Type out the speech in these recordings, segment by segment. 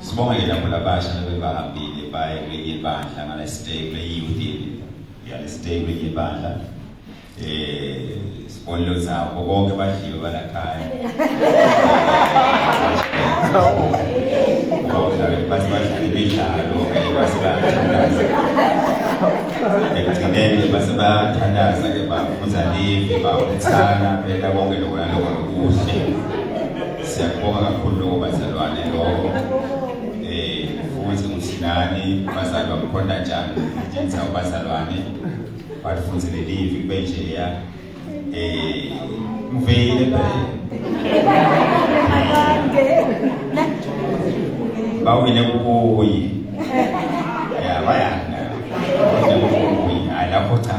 sibonge lapho labasha nabebahambile baye kwenye ibandla ngala stay kule youth yale stay kwenye ibandla eh sibonelo zabo bonke badliwe balakhaya imidlalo basebathandaza ekugcineni basebathandaza ke baba Uzalive baba uthana phela konke lokho naloko nokuhle. Siyakubonga kakhulu lokho bazalwane lokho. Eh futhi ngusinani bazali bamkhonda njani njengenza ubazalwane. Bathi futhi lelivi kube nje ya eh ngiveyile phela. Bawile kukuyi. Yeah, bayana. Bawile kukuyi. Hayi lapho cha.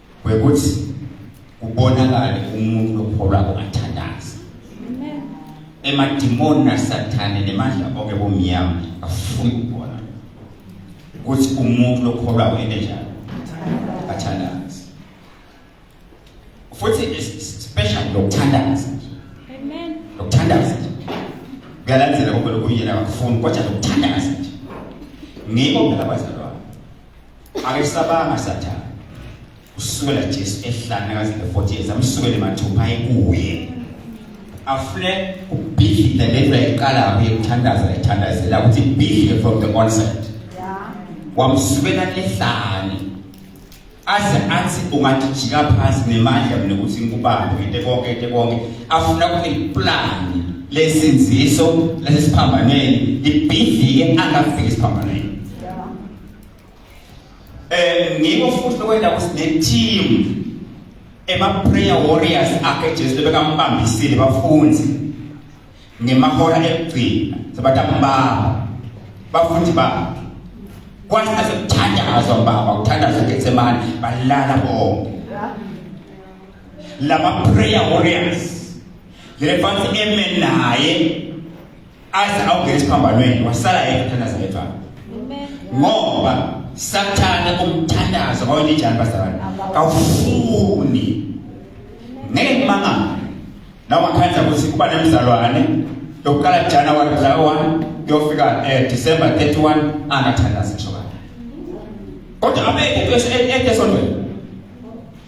kwekuthi kubonakale umuntu lokholwako athandaza emadimoni nasathane nemandla oke bomnyama afuni ukubona ukuthi umuntu lokholwako ende njalo athandaza futhi special lokuthandaza amen lokuthandaza kuyalandzela kumbe lokuyena akufuni kodwa lokuthandaza nje ngiko phela bazalwane Akesabanga sathana. Usukela Jesu ehlane kaze 40 years amsukele mathupha ayikuye. Afune ubhidla lento ayiqala kuye kuthandaza ethandazela ukuthi bidle from the onset. Yeah. Wamsukela ehlane. aze athi ungajijika phansi nemandla mina ukuthi ngikubambe into konke into konke afuna kuyiplani lesinziso lesiphambanweni ibhidlike angafiki esiphambanweni Eh ngikho futhi lokwenda kusine team ema prayer warriors akhe Jesu bekampambisile bafunzi ngemahora ekugcina sebatakumbaba bafundi babo kwase sekuthandazwa baba kuthandazwa eGetsemane balala bonke lama prayer warriors lefasi eme naye aze awungena esiphambanweni wasala yedwa uthandaza yedwa ngoba sathane umthandazo kawelinjani bazalwane kawufuni ngeke ngimangale la wakhanza ukuthi kuba nemzalwane yokuqala January mhla 1 yofika eh December 31 angathandaza ngisho kodwa abeke into esontweni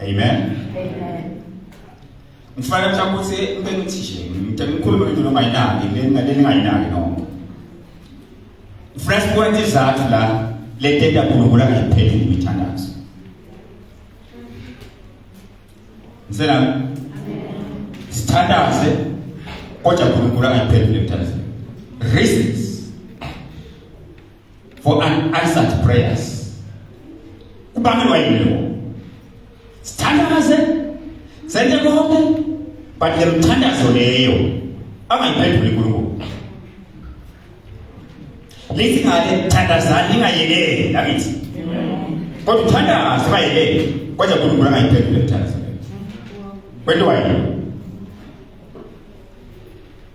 Amen. Amen. Ngifanele mhlawumbe ukuthi ube nothisha. Ngicela ngikhulume ngento noma yinaki, lena lena ngayinaki noma. Fresh point izathu la le tenda kulungula ngiphethe imithandazo. Ngisela sithandaze kodwa kulungula ngiphethe imithandazo. Reasons for unanswered prayers kubangelwa yini lokho sithandaze senze konke but le mthandazo leyo angayiphenduli uNkulunkulu lithi ngale thandazani ningayekeli lakithi kodwa uthandaze bayekeli kodwa uNkulunkulu angayiphenduli le thandazo kwentiwa yini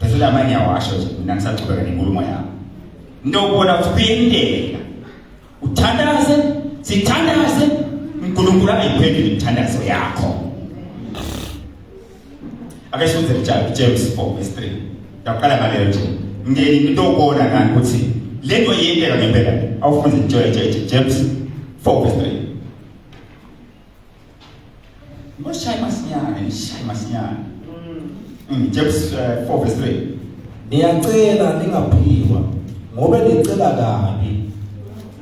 Bese la manye awasho nje mina ngisaqhubeka nenkulumo yami. Into ubona kuphindela. Uthandaze, sithandaze uNkulunkulu ayiphendule imithandazo yakho. Ake sifunde njalo James 4 verse 3. Yaqala ngaleyo nje. Ngeke into ubona ngani ukuthi lento yenteka ngempela. Awufunde njalo James 4 verse 3. Ngoshaya masinyane, ngishaya masinyane. Mm, James uh, 4 verse 3. Ngiyacela ningaphikwa ngoba nicela kabi.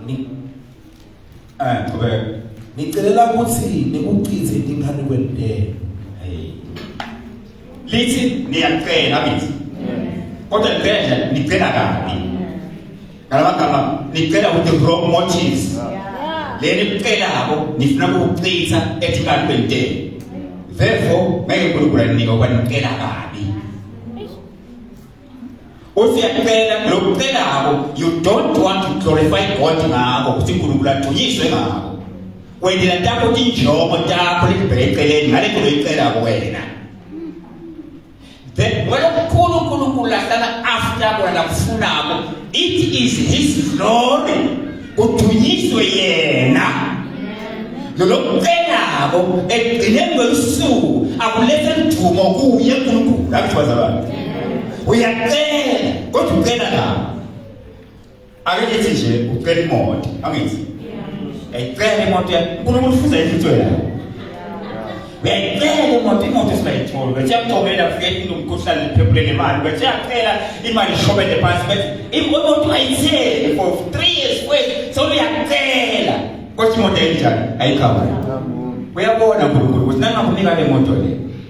Ni Eh, qhubeka. nicelela ukuthi nikuchithe ingane kwentela. Hey. Lithi niyacela bithi. Kodwa ngicela nje nicela kabi. Ngamagama nicela ukuthi wrong motives. Leli licela abo nifuna ukuchitha ethikali kwentela. Therefore ngeke uNkulunkulu anika ukuba nicela kabi. Usiyacela lokucela abo you don't want to glorify God ngako ukuthi uNkulunkulu agcunyiswe ngako. Wendela takho tinjongo takho lelibheke eceleni ngale nto loyicela kuwena. Then when uNkulunkulu ulahlana after kwena kufunako it is his glory kudunyiswe yena nolokucenako ekugcineni kwelusuku akulethe mdumo kuye uNkulunkulu akuthiwa zabani uyacela kodwa ucela la ake ngithi nje ucela imoto angithi uyayicela imoto yakho unkulunkulu ufuza intutho yakho uyayicela imoto imoto esingayitholi bethi yakucobela kufika into umkhuhlane liphepule nemali bethi yacela imali ishobele phansi bethi imoto ayitheli for three years kwezi sewuyacela kodwa imoto ayinjani ayikhavani uyabona unkulunkulu ukuthi nangakunika le moto le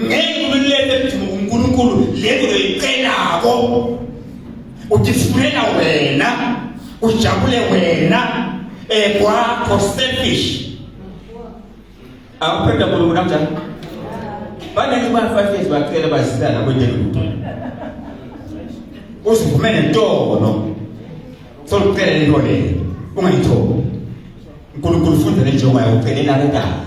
ngeke umeluleke ethi uNkulunkulu lento loyicelako udifunela wena ujabule wena ekwakho eh, selfish akuphetha kulo kanjani banele ba 5 years bacela bazisana kwendelutho uzivume nentono solucela lento leyo ungayithobi uNkulunkulu ufundele njengoba ucelela kanjani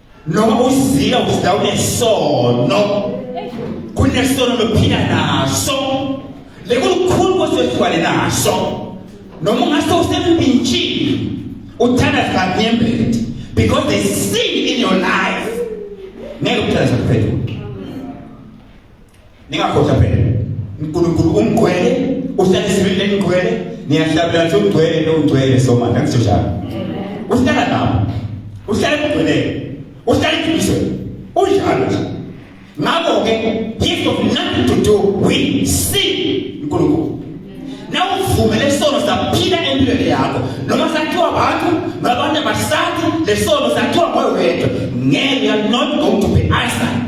noma uzila uzila unesono kunesono lophila naso lekulukhulu kosethwale naso noma ungase usembintshini uthanda sikanyembeti because they sin in your life ngeke uthanda sakuphendula ningakhohlwa phela uNkulunkulu umgcwele uhlale isibili lenigcwele niyahlabela nje ugcwele lo ugcwele so manje angisho njalo uhlala lapho uhlale kugcweleke uhlale iqiniso unjalo nje ngakho ke gift of nothing to do we see uNkulunkulu nawuvumele isono saphila empilweni yakho noma sakhiwa abantu nabantu abasathi lesono sakhiwa ngoyo wedwa ngeke you are not going to be eyesight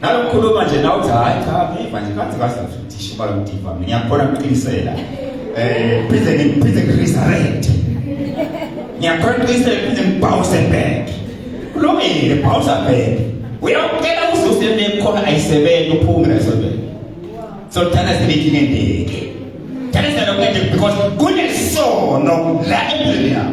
nalokukhuluma nje nawe uthi hayi cha ngiva nje kanti kahle futhi ishuba lomdiva mina ngiyakhona ukuqinisela eh phinde ngiphinde ngiresurrect ngiyakhona ukuqinisela phinde ngibhawuse back kulungile bhawusa back uyawucela uzuze nekhona ayisebenzi uphume nasobeni so thana sibiki nendeke thana sibiki because kunesono la empilweni yakho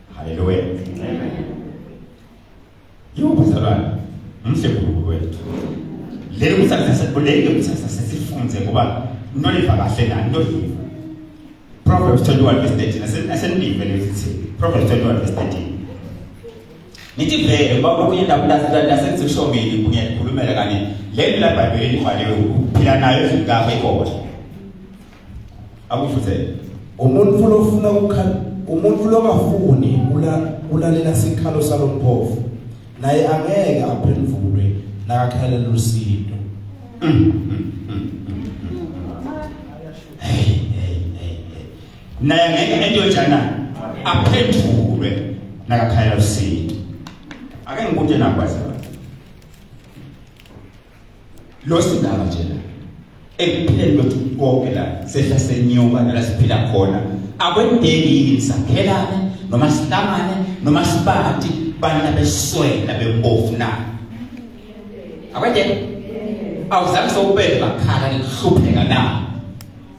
Haleluya. Amen. Yebo mzalwane, mhle Nkulunkulu wethu. Leli kusazisa kuleli kusazisa sesifunze ngoba into liva kahle nani into liva. Proverbs 21 verse 13 asenive lesithi Proverbs 21 verse 13. Nithi vele ngoba kunye ndabulazi lasengisishongile kunye likhulumela kanye leli la Bhayibheli libhaliwe ukuphila nayo ezweni kaKhona. akufuthele umuntu lofuna ukukhala umuntu lokafuni ulalela sikhalo salompofu naye angeke aphendulwe nakakhalela usindo naye ngeke into enjana aphendulwe nakakhalela usindo ake ngikude nakwazi losindaba nje la ekupheleni kwethu konke la sehla senyuka la siphila khona akwendeki yini sakhelane noma sihlangane noma sibati bana beswela bembofu na akwendeki awuzange sokubeka bakhala ngihlupheka na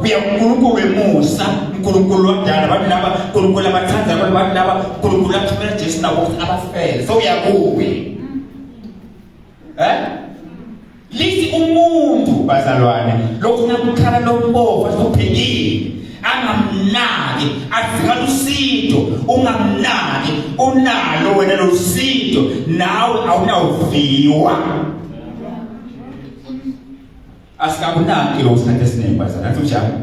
uya uNkulunkulu wemusa uNkulunkulu lodala abantu laba uNkulunkulu abathanda abantu abantu laba uNkulunkulu athumela Jesu nabo ukuthi abafele so uyakuwe eh lithi umuntu bazalwane lokhu nakukhala lombovu asubhekile angamnaki azikhala usinto ungamnaki unalo wena lo sinto nawe awunawuviwa Asikabunaki lo sikhathi esiningi bazana nathi njalo.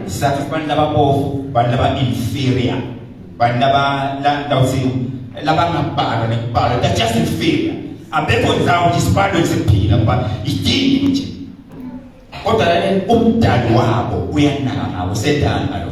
Sathi abantu lababofu, abantu laba inferior, abantu laba la ndawuthi labangabhalwa nekubhalwa that's just inferior. Abekho ndawo nje isibalo esiphila ngoba idingi nje. Kodwa la umdali wabo uyanaka ngabo sedala lo.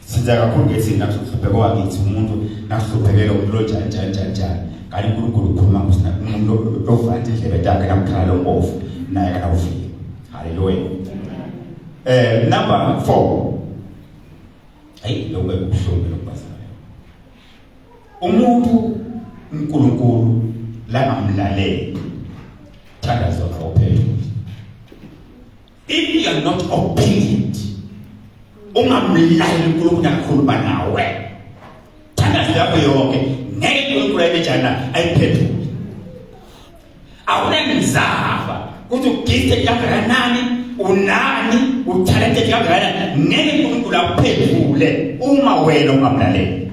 Siza kakhulu ke thina kuhlupheka wakithi umuntu nakuhluphekela umuntu onjani njani njani njani. Kanti uNkulunkulu ukhuluma ngusina umuntu ovula indlebe yakhe namkhala lombofu naye akawufiki. Haleluya. Eh number 4. Hayi lokho kubuhlungu lokubazana. Umuntu uNkulunkulu la amlalele. Thanda zona ophethe. if you are not obedient ungamlaleli uNkulunkulu akhuluma nawe thandazo yakho yonke ngeke uNkulunkulu ayibejana ayiphendule awunenzaba ukuthi ugifte kangakanani unani uthalente kangakanani ngeke uNkulunkulu akuphendule uma wena ungamlaleli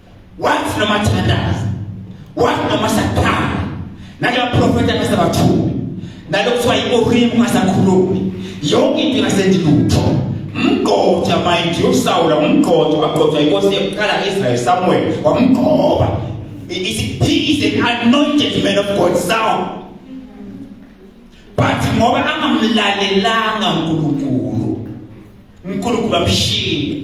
wathi noma thandaza wathi noma sakhala naka profeta kasabathumi nalo kuthiwa iOrim ngasakhulumi yonke into ngasendilutho mgqotha mind you Saul umgqotha wagqotha inkosi yokuqala Israel Samuel wamgqoba he is an anointed man of God Saul but ngoba angamlalelanga uNkulunkulu uNkulunkulu amshiye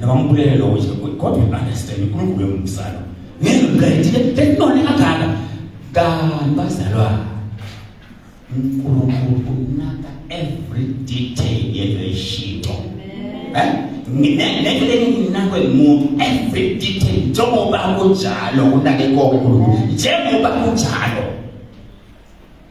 Nabambulele lokho nje kodwa you understand uNkulunkulu uyomsala. Ngeke ngidayithile benone kangaka. Kanti bazalwa uNkulunkulu unaka every detail yento eshintsho. Eh? Ngeke lenginakwe umuntu every detail njengoba kunjalo unake konke uNkulunkulu. Njengoba kunjalo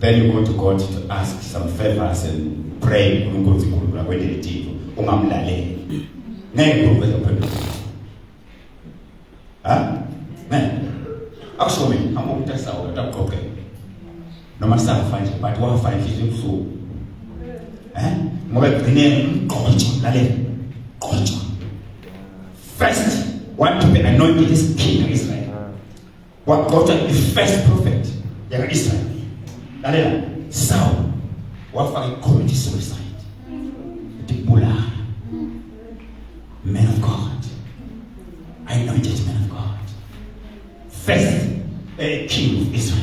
Then you go to God to ask some favors and pray uNkulunkulu sikhulula kwelitiko ungamlaleli. Ngeke ukwenza phendula. Ha? Ne. Akusho mina hamba umntasa wona utaqoqe. Noma safa nje but wafa inhliziyo ebuhlungu. Eh? Ngoba egcine umgqotsho lalela. Gqotsho. First, want to be anointed is king of Israel. wagcotshwa the first prophet yaka-israyeli lalela sawu wafaka ikhomiti suicide ndibulala man of god i know it is man of god first a eh, king of israel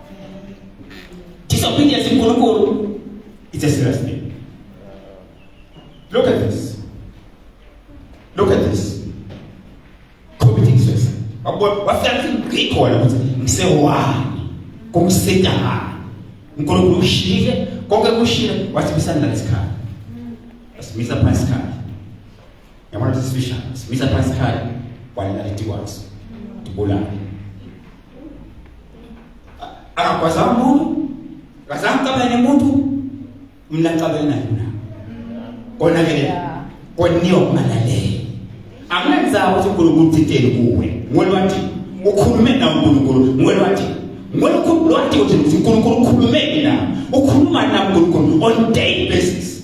Disobedience to Guru is a serious thing. Look at this. Look at this. Committing suicide. Wafika ngithi ngikhona ukuthi ngisewani kumsitahani unkulunkulu ushile konke kushile wathi bisanilalesikhala wasimisa phansi sikhala yabona ukuthi sibisha simisa phansi khaya walala litikwazi tibulala akakwaza umuntu akazange cabane umuntu mina cabane naye mina kona ke koniyo kumalalele akunenzaba ukuthi uNkulunkulu uthinteni kuwe ngwele wathi ukhulume nawe uNkulunkulu ngwele wathi ngwele ukhulume wathi ukuthi uNkulunkulu ukhulume nawe ukhuluma nawe uNkulunkulu on daily basis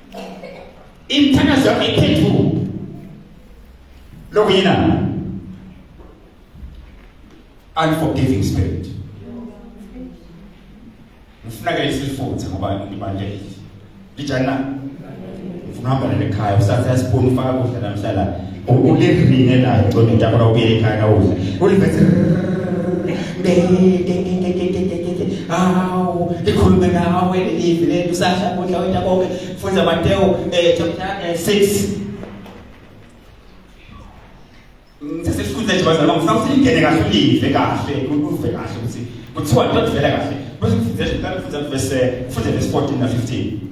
imthandazo yakho iphenduke lokhu yina unforgiving spirit ngifuna ke isifuthe ngoba ngibandele lijana ngifuna uhamba nalekhaya usathe asipuni ufaka kudla namhlanje ulivine nayo kodwa into yakho ubuyele ekhaya kawuze ulivese awu likhulume nawe lelivi leli usasha kudla wena konke funda Mateo eh chapter 6 sesifunda nje bazalwa ngifuna ngene kahle ulive kahle uve kahle ukuthi kuthiwa into evela kahle bese ngifundele ngifundele verse 14 na 15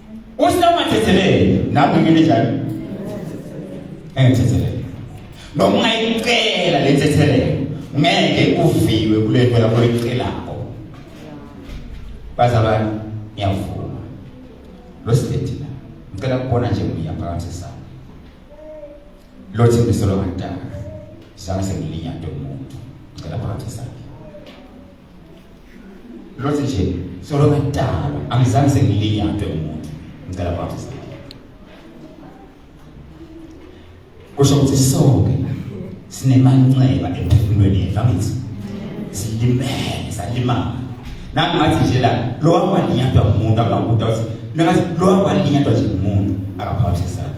usamathethelele nami ngimile njalo engithethelele noma ungayicela le thethelelo ngeke uviwe kule nto lapho oyicelako bazalwane ngiyavuma lo sideti la ngicela kubona nje uya phakathi sami lo thembiselo kantaka zange sengilinyade umuntu ngicela phakathi sami Lothi nje solo ngadala angizange sengilinyatwe umuntu ngicela kwathi kusho ukuthi sonke sinemanxeba emphefumulweni yethu angithi silimele salimala nami ngathi nje la lo wakwalinyatwa umuntu akakuda uthi nakathi lo wakwalinyatwa nje umuntu akaphawuthi sana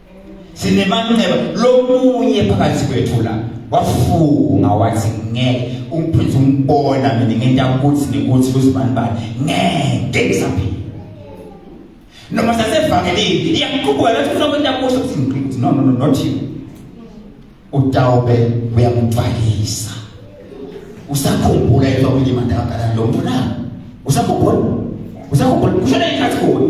sinemanxeba lomunye phakathi kwethu la wafunga wathi ngeke umprince umbona mina ngenta ukuthi nikuthi kuzibani bani ngeke ngisaphila noma sasevangelini iyakuqubuka lethi ufuna kwenta kuhle ukuthi ngiqinise no no no not you utawube uyamubhalisa usakhumbula into okulima ndakabhala lo mntu na usakhumbula usakhumbula kushona ikhathi kuwe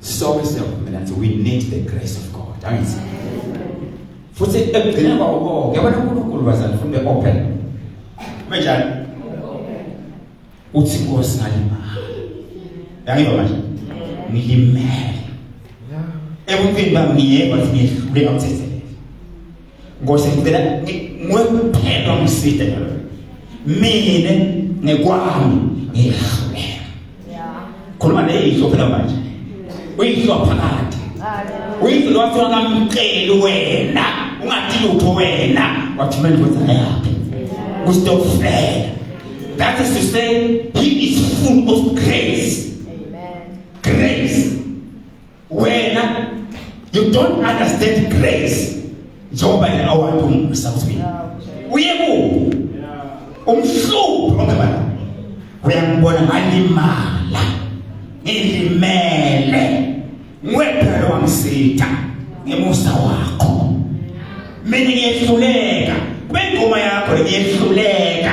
sonke siyavumelana ukuthi we need the grace of God angithi futhi ekugcineni kwako konke yabona uNkulunkulu bazali futhi open kunjani uthi inkosi ngalima yangiba manje ngilimele ebuntwini bami ngiyeva ukuthi ngiyehluleka ukuthetha Nkosi ngicela ngwekuphela ngiside ngalo. Mina ngekwami ngiyahlulela. Khuluma nezihlo phela manje. Uyihlo phakade. Uyihlo lwathi wakamceli wena, ungathi lutho wena, wathi manje wenza yakhe. Kustofela. That is to say, he is full of grace. Amen. Grace. wena you don't understand grace njengoba yena awuhambi umbusa kuthi uye ku umhlubu ongebala uyambona ngalimala ngilimele ngwephela wamsitha ngemusa wakho mina ngiyehluleka bengoma yakho ngiyehluleka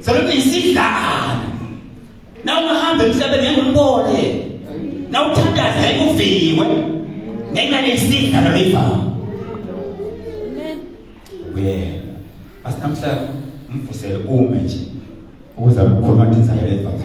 Sebenza isidlana. Na ungahamba emhlabeni ngeke umbone. Na uthandaza ngeke uviwe. Ngenxa yesidlana levanga. Amen. Yeah. Asinamhla mfusele ume nje. Ukuze ukhuluma nje zayo levanga.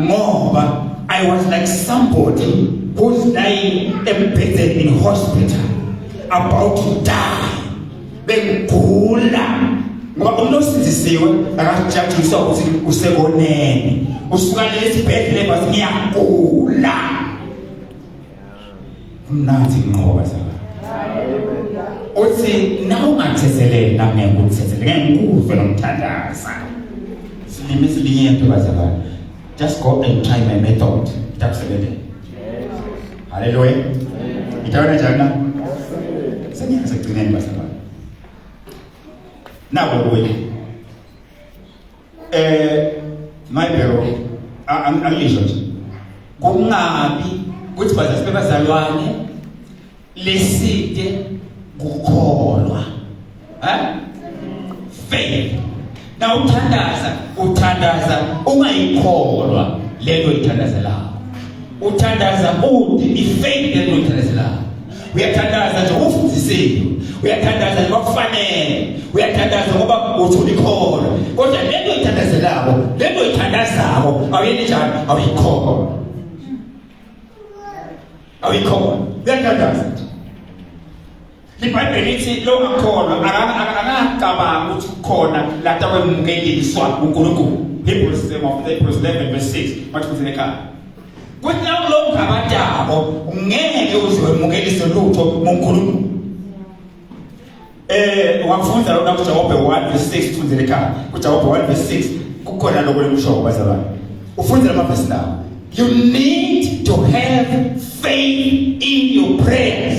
ngoba i was like somebody who's lying embedded in hospital about to die bengigula ngoba umuntu osindisiwe akajajiswa ukuthi usekonene usuka lesi bhedlela bathi ngiyagula mnanzi inqoba zala uthi nawungathezeleli nami ngikuthezelele ngeke ngikuve nomthandaza silime silinye into bazala just go and try my method itakusebenzela haleluya itawana njani na sengiyazi ekugcineni bazala nabo kuye eh my bro angizwa nje kungabi ukuthi bazazi bebazalwane leside kukholwa ha faith na uthandaza uthandaza ungayikholwa lento ithandazelayo uthandaza uthi ifaith lento ithandazelayo uyathandaza nje ufundisiwe uyathandaza nje bakufanele uyathandaza ngoba uthula ikhona kodwa lento oyithandazelako lento oyithandazako awuyeni njani awuyikhona awuyikhona uyathandaza nje libhayibheli lithi lo akholwa akangacabanga ukuthi kukhona lata kwemukeliswa unkulunkulu hebrews 11 verse 6 mathi kuthi nekhaya Kuthi nawe lokhu ngabatabo ngeke uze wemukelise lutho ngoNkulunkulu. Eh wakufunza lona kuJakobe 1 verse 6 tfundzele ekhaya. KuJakobe 1 verse 6 kukhona lokho lekushoyo bazalwane. Ufundzela amavesi lawo. You need to have faith in your prayers.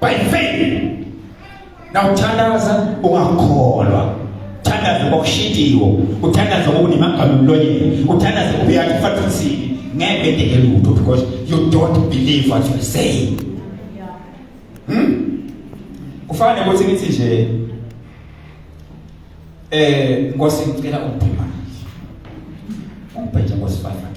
by faith now thandaza ungakholwa uthandaze ngokushintshiwo uthandaze ngokunimagama emlonyeni uthandaze ubuyakhe efathusini ngeke edeke lutho because you don't believe what you say hmm? kufana nokuthi ngithi nje eh nkosi ngicela ukuphi manje ungibheje ngosifana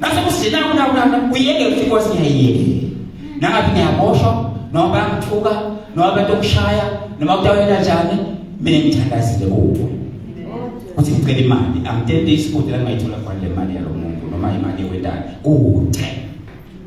Nase kusina kuna kuna uyeke ukuthi inkosi ngiyayiyeke. Nangabe ngiyaboshwa noma bayangithuka noma abantu okushaya noma kutawela njani mina ngithandazile kubo. Uthi ngicela imali amtente isikude la ngayithola khona le mali yalo muntu noma imali yewendana kude.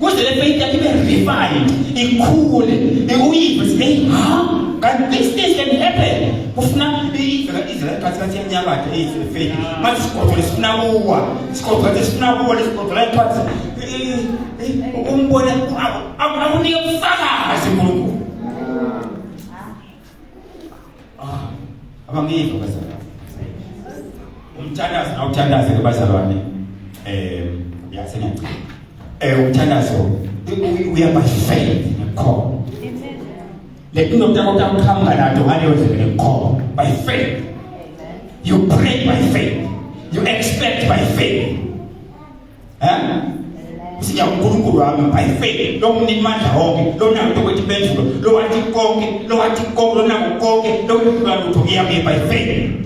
kuze le faith yakhe ibe refined ikhule iuyive sibe ha kanti these things can happen kufuna izela ikhathi kathi yanyakatha eyizile faith manje sigodwa lesifuna kuwa sigodwa kathi sifuna kuwa lesigodwa la ikhathi umbone akunike ubufakazi unkulunkulu Ah, abangizwa bazalwane. Umthandazo nawuthandaze ke bazalwane. Eh, yazi ngicela. Eh, umthandazo uyabashela ngekhono. Le nto nokutakuta ukuhamba nato ngaleyo ndlela ngekhono. By faith. You pray by faith. You expect by faith. Eh? Siya uNkulunkulu wami by faith lo mnini mandla wonke lo nakuthi ukuthi benzulo lo wathi konke lo wathi konke lo naku konke lo kuba lutho ngiyami by faith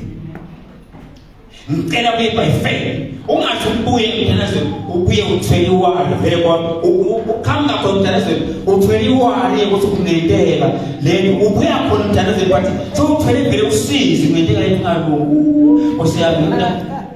ngicela kuye by faith ungathi ubuye mntanazwe ubuye uthwele iwalo vele kwa ukhamba khona mntanazwe uthwele iwalo ukuthi kungenteka lento ubuya khona mntanazwe bathi so uthwele vele usizi ngenteka lento ngalungu osiyami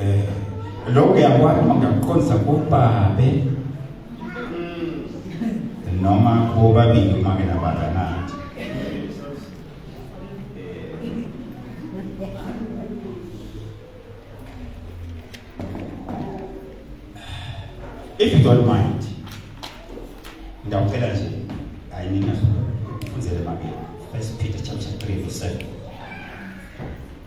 eh lokho yakwani mangakuqondisa kubabe hmm. noma bobabili uma ke nabakanati if you don't mind ngiyawucela nje hayi nina funzele mabili first peter chapter 3 verse 7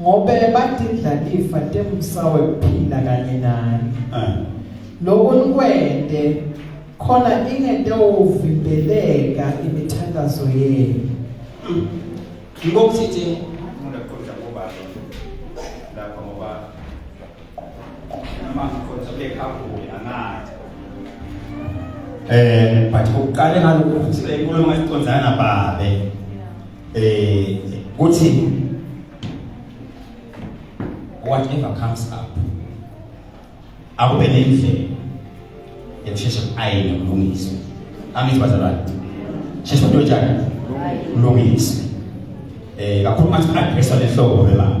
ngobe batindlalifa temsawe kuphila kanye naye eh. lokho nikwende khona ingente uvimbeleka imithandazo yenu yiko kusithi umuntu aqonda ngoba lapha ngoba mama khona bekhaphule angathi eh but uqale ngalokho ukuthi inkulumo esiqondana babe eh kuthi whatever comes up akube nendlela yokusheshe ayine kulungiswe angithi bazalwane sheshe into njani kulungiswe eh kakhulu manje address lehlobo lelanga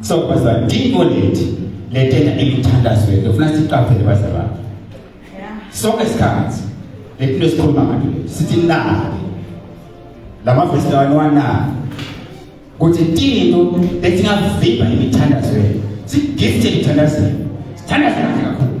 so bazalwane ndingo lethi letena imithandazo yethu ufuna siqaphele bazalwane sonke isikhathi letinto esikhuluma ngato leti sithi nake lamavesi lawa niwanake kuthi tinto letingavimba imithandazo yethu sigifte imithandazo yethu sithandaze kahle kakhulu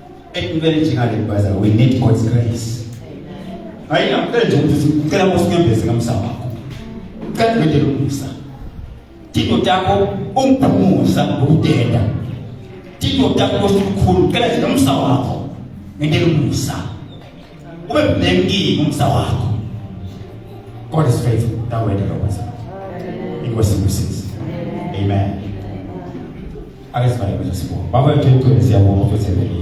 Ekungelinjengale baza we need God's grace. Hayi ngicela nje ukuthi sicela usinyembeze kamsa wakho. Ucela nje lokusa. Tino takho ungiphumuza ngokudenda. Tino takho usikhulu ucela nje kamsa wakho. Ngeke lokusa. Ube blengi ngomsa wakho. God is faithful. That way the Lord was. Inkosi ibusize. Amen. Ake sivale bese sibonga. Baba yethu enkulu siyabonga ukuthi uthembekile.